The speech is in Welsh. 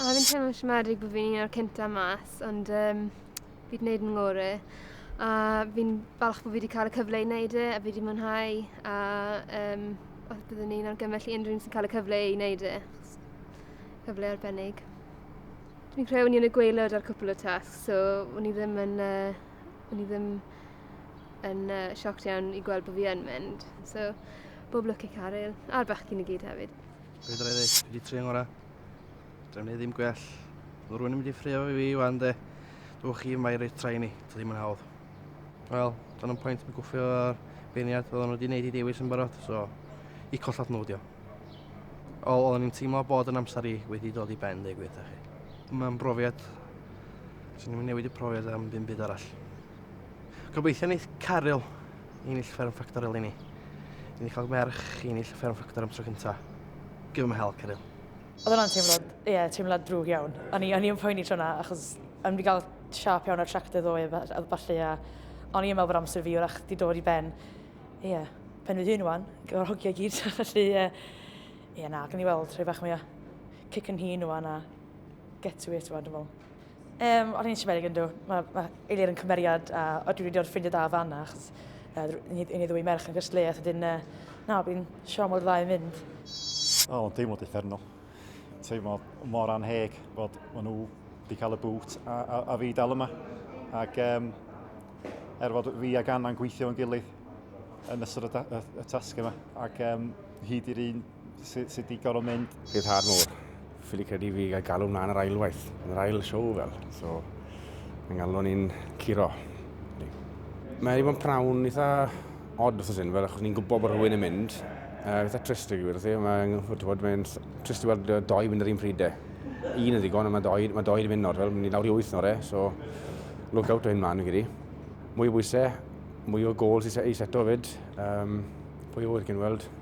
A fi'n teimlo siomedig bod fi'n un o'r cynta mas, ond um, fi wedi gwneud yn ngore. A fi'n falch bod fi wedi cael y cyfle i wneud e, a fi wedi mwynhau, a um, os byddwn ni'n argymell i unrhyw un sy'n cael y cyfle i wneud e, cyfle arbennig. Dwi'n credu o'n i yn y gweilod ar cwpl o tasg, so o'n i ddim yn... Uh, o'n i ddim yn uh, sioc iawn i gweld bod fi yn mynd. So, bob lwc i Caryl, a'r bechgyn i gyd hefyd. Beth rhaid ei, wedi tri yng ngora. Dwi'n ei ddim gwell. Mae rhywun yn mynd i ffrio fi fi wan de. Dwi'n chi mae reit trai ni, dwi ddim yn hawdd. Wel, dan yn pwynt mi gwffio ar beirniad oedden nhw wedi gwneud i dewis yn barod, so i collat nhw dio. Ol, oedden ni'n teimlo bod yn amser i wedi dod i ben, dweud gwir chi. Mae'n brofiad Swn i'n newid y profiad am ddim byd arall. Gobeithio wneith Caryl i'n ill fferm ffactor eleni. I ni cael merch i'n ill fferm ffactor am tro cynta. Give him hell, Caryl. Oedd hwnna'n teimlad, ie, yeah, teimlad drwg iawn. O'n i, o'n i yn poeni tro yna, achos o'n i gael siap iawn ar tractor ddoe a falle, a o'n i yn meddwl bod amser fi wrach di dod i ben. Ie, yeah, pen fy hun wan, gyda'r hogiau gyd, felly, ie, yeah. yeah, na, gan i weld rhai bach mwy o cic yn hun wan a get to it wan, dwi'n meddwl. Um, o'n i'n siarad yn dw, mae ma Eilir yn cymeriad a o dwi wedi o'r ffrindiau da fanna, achos uh, ni, ni ddwy merch yn gysle, a dyn, uh, na, fi'n siarad mor dda i fynd. O, oh, teimlo differnol. Teimlo mor anheg bod maen nhw wedi cael y bwt a, a, a fi dal yma. Ac um, er fod fi ag Anna'n gweithio yn gilydd yn ystod y, y, y tasg yma, ac um, hyd i'r un Sut sy wedi gorfod mynd? Bydd hard mor. Ffili credu fi gael galw mlaen yr ailwaith, yn yr ail siow fel. So, mae'n galw ni'n curo. Mae wedi bod yn prawn eitha odd wrth hyn, fel achos ni'n gwybod bod rhywun yn mynd. Uh, eitha trist i gwir, mae'n mae'n trist i weld doi mynd yr un pryd e. Un yn ddigon, ond mae doi, mae doi wedi mynd nawr, fel, ni lawr i wyth nawr e, so look out o hyn mlaen i gyd i. Mwy o bwysau, mwy o gôl i seto fyd, um, pwy o wyr cyn weld.